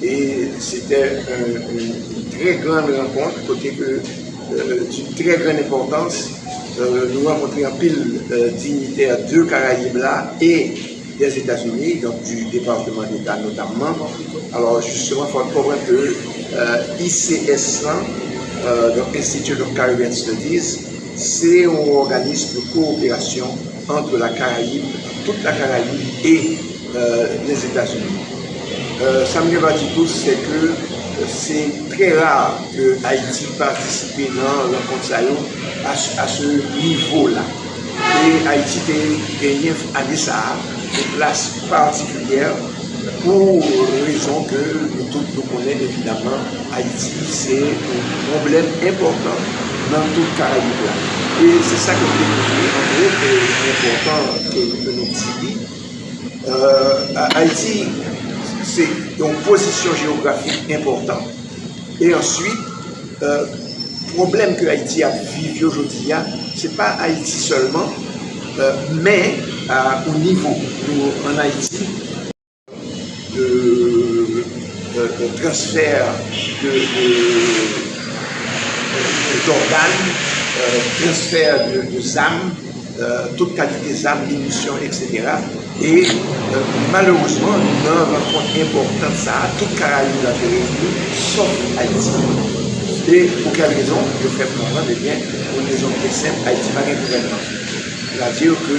E se tè yn trè gran rankont kote ke di trè gran enpòtans nou rankontre anpil dignitè de karayib la e dè etazini donk di departeman deta notamman alò jisteman fòk konprann ke ICS lan donk Institute of Caribbean Studies se yon òganis de kooperasyon Entre la Caraïbe, toute la Caraïbe et les Etats-Unis. Sa m gen dwa di tou se ke se trè rare ke Ayiti patisipe nan rankont sa yo a se nivo la. E Ayiti te genyen ane sa a yon plas patikilyè pou rezon ke nou tout nou konnen evidaman. Ayiti se yon pwoblèm enpòtan nan tout Karayib la. E se sa ke nou te konkli an gwo ke li enpòtan ke nou di li. Ayiti se yon pozisyon jewografik enpòtan. E answit, pwoblèm ke Ayiti ap viv yo jodi a, se pa Ayiti sèlman, men o nivo nou an Ayiti. de transfer de d'organ, transfer de zam, tout kalite zam, minisyon etc. E malerezman nan rankont enpòtan sa a tout karayib la te reyini sòf Ayiti. E pou kèl rezon? Yo fèm konprann ebyen pou yon rezon byen senp Ayiti pa gen gouvènman. Sa vle dire ke.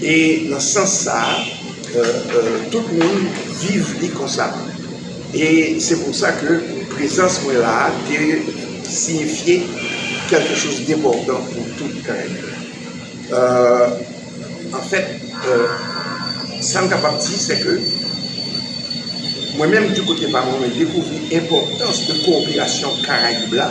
E nan sans sa a, tout moun viv li konsa. E se pou sa ke prezans mwen la a te siyifye kèlke choz depòtan pou tout Karen yo. An fèt, sa m kapab di se ke mwen menm di kote pa mwen, mwen dekouvri enpòtans de koperasyon Karayib la.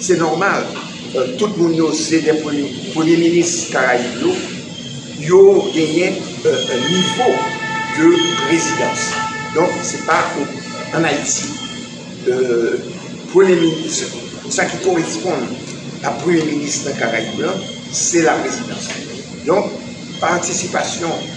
Se nòmal, tout moun yo se de premye minis Karayib yo, yo genyen nivo de rezidans. Donk, se pa an Ayiti, premye minis, sa ki koresponn a premye minis nan Karayib lan, se laprezidans. Donk, patisipasyon.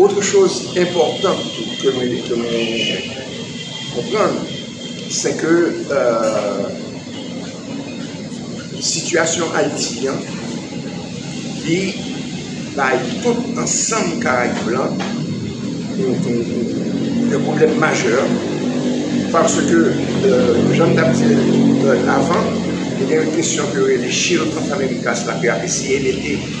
Otre choz enpòtan tou ke nou konprann se ke sitiyasyon Ayiti an li bay tout ansanm Karayib la yon pwoblèm majè paske jan m t ap di l avan, gen yon kesyon ke yo rele shield of Americas la ke y ap eseye mete.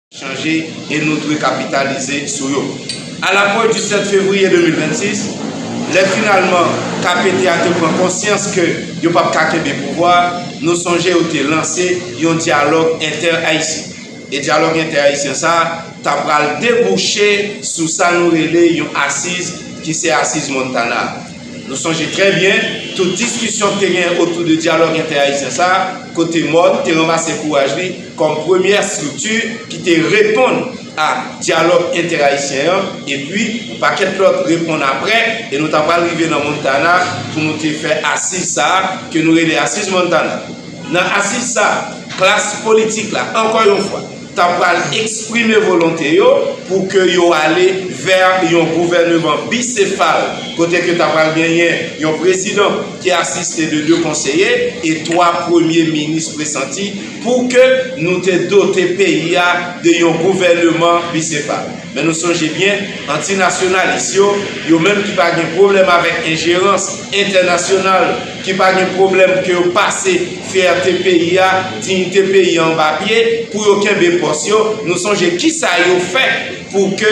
chanje e nou dwe kapitalize sou yo. A la pwent di 7 fevriye 2026, lè finalman KPT a te pran konsyans ke yo pap ka kenbe pouvwa a, nou sonje yo te lanse yon dyalòg entè-ayisyen. E dyalòg entè-ayisyen sa a ta pral debouche sou sa nou rele yon asiz ki se asiz Montana a. Nou sonje trè byen tout diskisyon k te gen otou de dyalòg entè-ayisyen sa a, kote mòn te ranmase kouraj li kòm premyè estrikti ki te reponn a dyalòg entè-ayisyen an, epi yon pakèt lòt reponn apre, e nou ta pral rive nan Montana pou nou te fè asiz sa a ke nou rele Asiz Montana. Nan asiz sa a, klas politik la, ankò yon fwa, ta pral eksprime volonte yo pou ke yo ale vè yon gouvèneman bisefal kote ke ta pral genyen yon prezidan ki asiste de 2 konseye e 3 premye minis presanti pou ke nou te dote peyi a de yon gouvèneman bisefal. Men nou sonje byen, antinasyonalis yo, yo menm ki pa gen pwoblèm avèk enjerans entènasyonal, ki pa gen pwoblèm ke yo pase fyète peyi a, diyite peyi a anba pye pou yo kenbe pòs yo, nou sonje kisa yo fè pou ke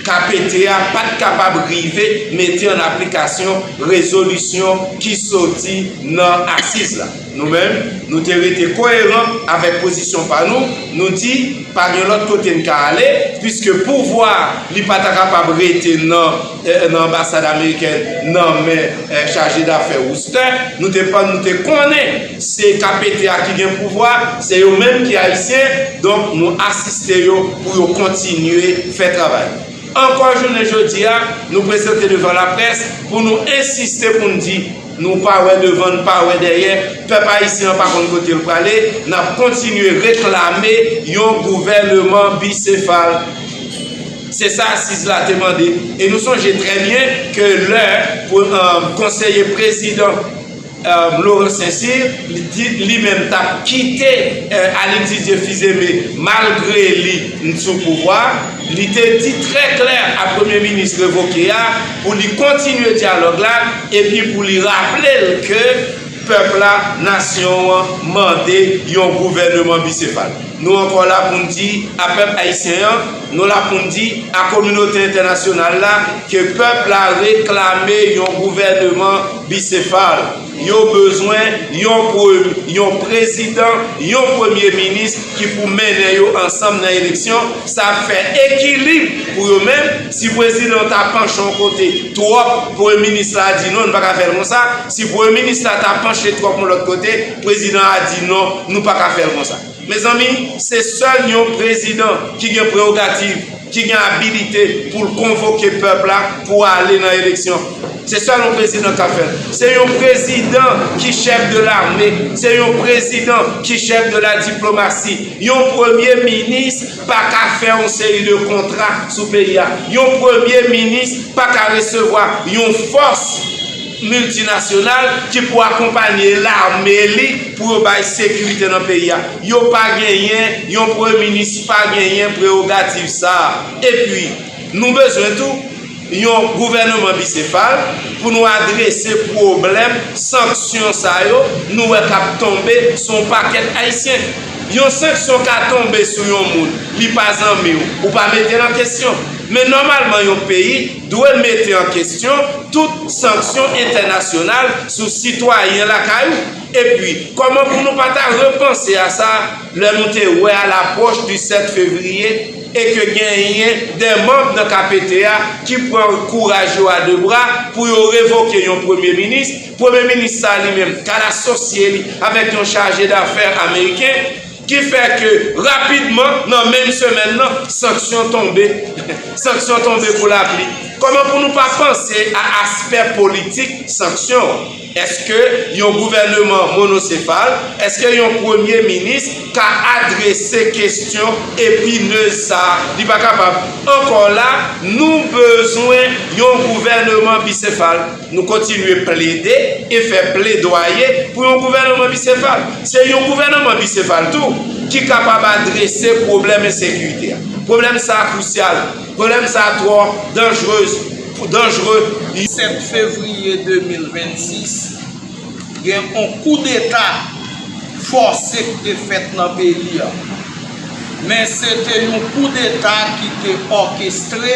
KPT a pa t kapab rive mete an aplikasyon rezolisyon ki soti nan asiz la. Nou menm, nou te rete koyeran avèk pozisyon pa nou, nou di pa gen lòt kote n ka ale, piske pouvwa li pa ta kapab rete nan. nan anbasad amerikèn nan men chaje dafè Wooster, nou te pann nou te konnen se KPT a ki gen pouvwa, se yo menm ki Ayisyen, donk nou asiste yo pou yo kontinye fè travay. Ankò jounen jodi a, nou prezante devan laprès pou nou ensiste pou n di, nou pa wè devan n pa wè dèyè, pèp ayisyen an pa konn kote l prale, n ap kontinye reklame yon gouvèneman bisefal. Se sa asiz la te mande. E nou sonje trè byen ke lè konseye prezidan Laurent Saint-Cyr di li menm t ap kite Alix Didier Fils-Aimé malgre li t sou pouvwa, li te di trè klè a premye minis revoke a pou li kontinye dyalòg la epi pou li raple l ke pèp la, nasyon an mande yon gouvèneman bisefal. Nou ankò la pou n di a pèp ayisyen an, Nou la pou n di a kominote entènasyonal la ke pèp la reklame yon gouvèneman bisefal. Yo bezwen yon yon prezidan, yon premye minis ki pou mennen yo ansanm nan eleksyon. Sa ap fè ekilib pou yo menm. Si prezidan an ta panche yon kote twòp, premye minis la di non, nou pa ka fè l konsa. Si premye minis la ta panche twòp yon lòt kote, prezidan an a di non, nou pa ka fè l konsa. Mezanmi, se sèl yon prezidan ki gen prerogativ, ki gen abilite pou l konvoke pèp la pou ale nan eleksyon. Se sèl yon prezidan k ka fè l. Se yon prezidan ki chèf de lame, se yon prezidan ki chèf de la diplomasi. Yon premye minis pa ka fè yon seri de kontra sou peyi a. Yon premye minis pa ka resevwa yon fòs. Miltinasyonal ki pou akonpanye lame li pou yo bay sekirite nan peyi a. Yo pa genyen, yon premye minis pa genyen prewogativ sa a. Epi, nou bezwen tou yon gouvèneman bisefal pou nou adrese pwoblèm sanksyon sa yo nou wè k ap tonbe sou yon pakèt Ayisyen. Yon sanksyon ka tonbe sou yon moun, li pa zanmi w, ou pa mete l an kesyon. Men nòmalman yon peyi. Dwe mete an kesyon tout sanksyon entènasyonal sou sitwayen lakay ou. Epi, kòman pou nou pa ta repanse a sa lè nou te wè a lapwòch di 7 fevriye e ke genyen de manb nan KPT a ki pran kouraj yo a de bra pou yo revoke yon premye minis, premye minis sa li menm ka l asosye li avèk yon chaje dafè ameriken. Ki fè ke rapidman nan menm semèn nan, sanksyon tonbe. Sanksyon tonbe kou lapli. Kòman pou nou pa panse a aspè politik sanksyon an? Eske yon gouvèneman monosefal, eske yon premye minis ka adrese kestyon epinez sa? Li pa kapab. Ankò la, nou bezwen yon gouvèneman bisefal. Nou kontinye plede e fè pledwaye pou yon gouvènman bisefal. Se yon gouvènman bisefal tou ki kapab adrese pwoblèm ensekirite a. Pwoblèm sa a krusyal. Pwoblèm sa a twò danjrez, danjre. 7 fevriye 2026, gen yon koudeta fòse ki te fèt nan peyi a. Men se te yon koudeta ki te òkestre.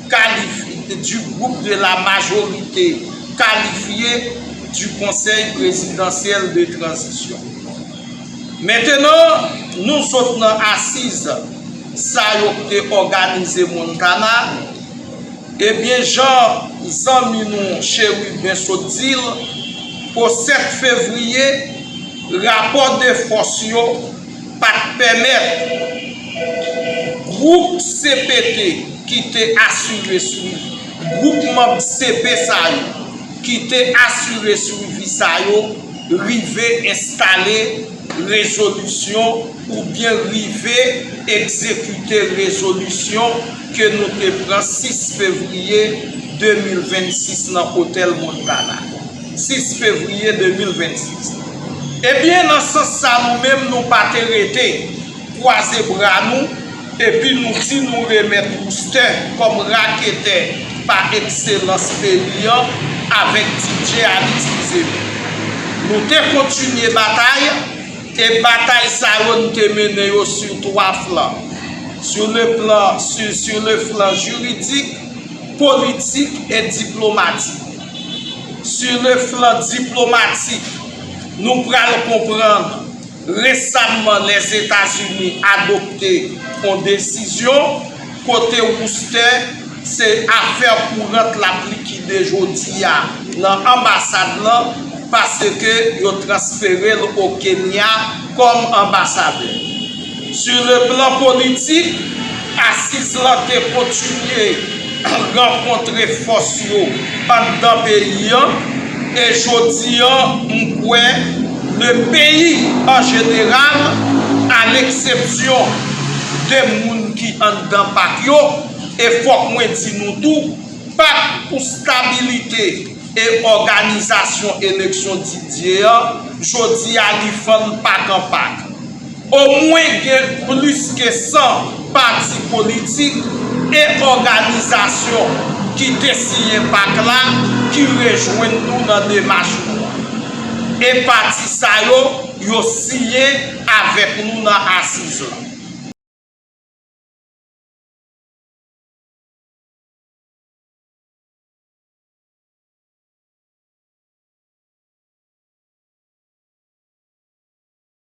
qualified du groupe de la majorité qualifiée du Conseil Présidentiel de Transition. Mentenan, nou sot nan asiz sa yo k te òganize Montana, ebyen jan zanmi nou Chérubin sot di l, o 7 fevriye, rapò de fòs yo, pa t pèmèt gwoup cpt ki te asire swivi gwoup manm cp sa yo ki te asire swivi sa yo rive enstale rezolisyon oubyen rive egzekite rezolisyon ke nou te pran 6 fevriye 2026 nan Otèl Montana. 6 fevriye 2026. Ebyen nan sans sa nou menm nou pa te rete, kwaze bra nou epi nou di nou remèt Woustè kòm raketè pa ekselans peyi an avèk DJ Alix Fizeme. Nou te kontinye batay e batay sa yo n te mennen yo sur 3 flan, sur le plan sur le flan juridique, politique et diplomatique. Su le flan diplomatik, nou pral konprann resamman Lèzetazini adopte on desizyon kote woustè se afè kourant l ap likide jodi a nan anbasad lan paske yo transfere l o Kenya kòm anbasadè. Su le plan politik, asiz lan te kontinye rankontre fòs yo anndan peyi an e jodi an m kwè le peyi an jeneral a leksepsyon de moun ki anndan pak yo e fòk mwen di nou tou pak pou stabilite e òganizasyon eleksyon Didier an jodi a li fann pak an pak. Omwen gen plis ke 100 pati politik e òganizasyon ki te siyen pak la ki rejwenn nou nan demach nou an. E pati sa yo, yo siyen avèk nou nan asiz la.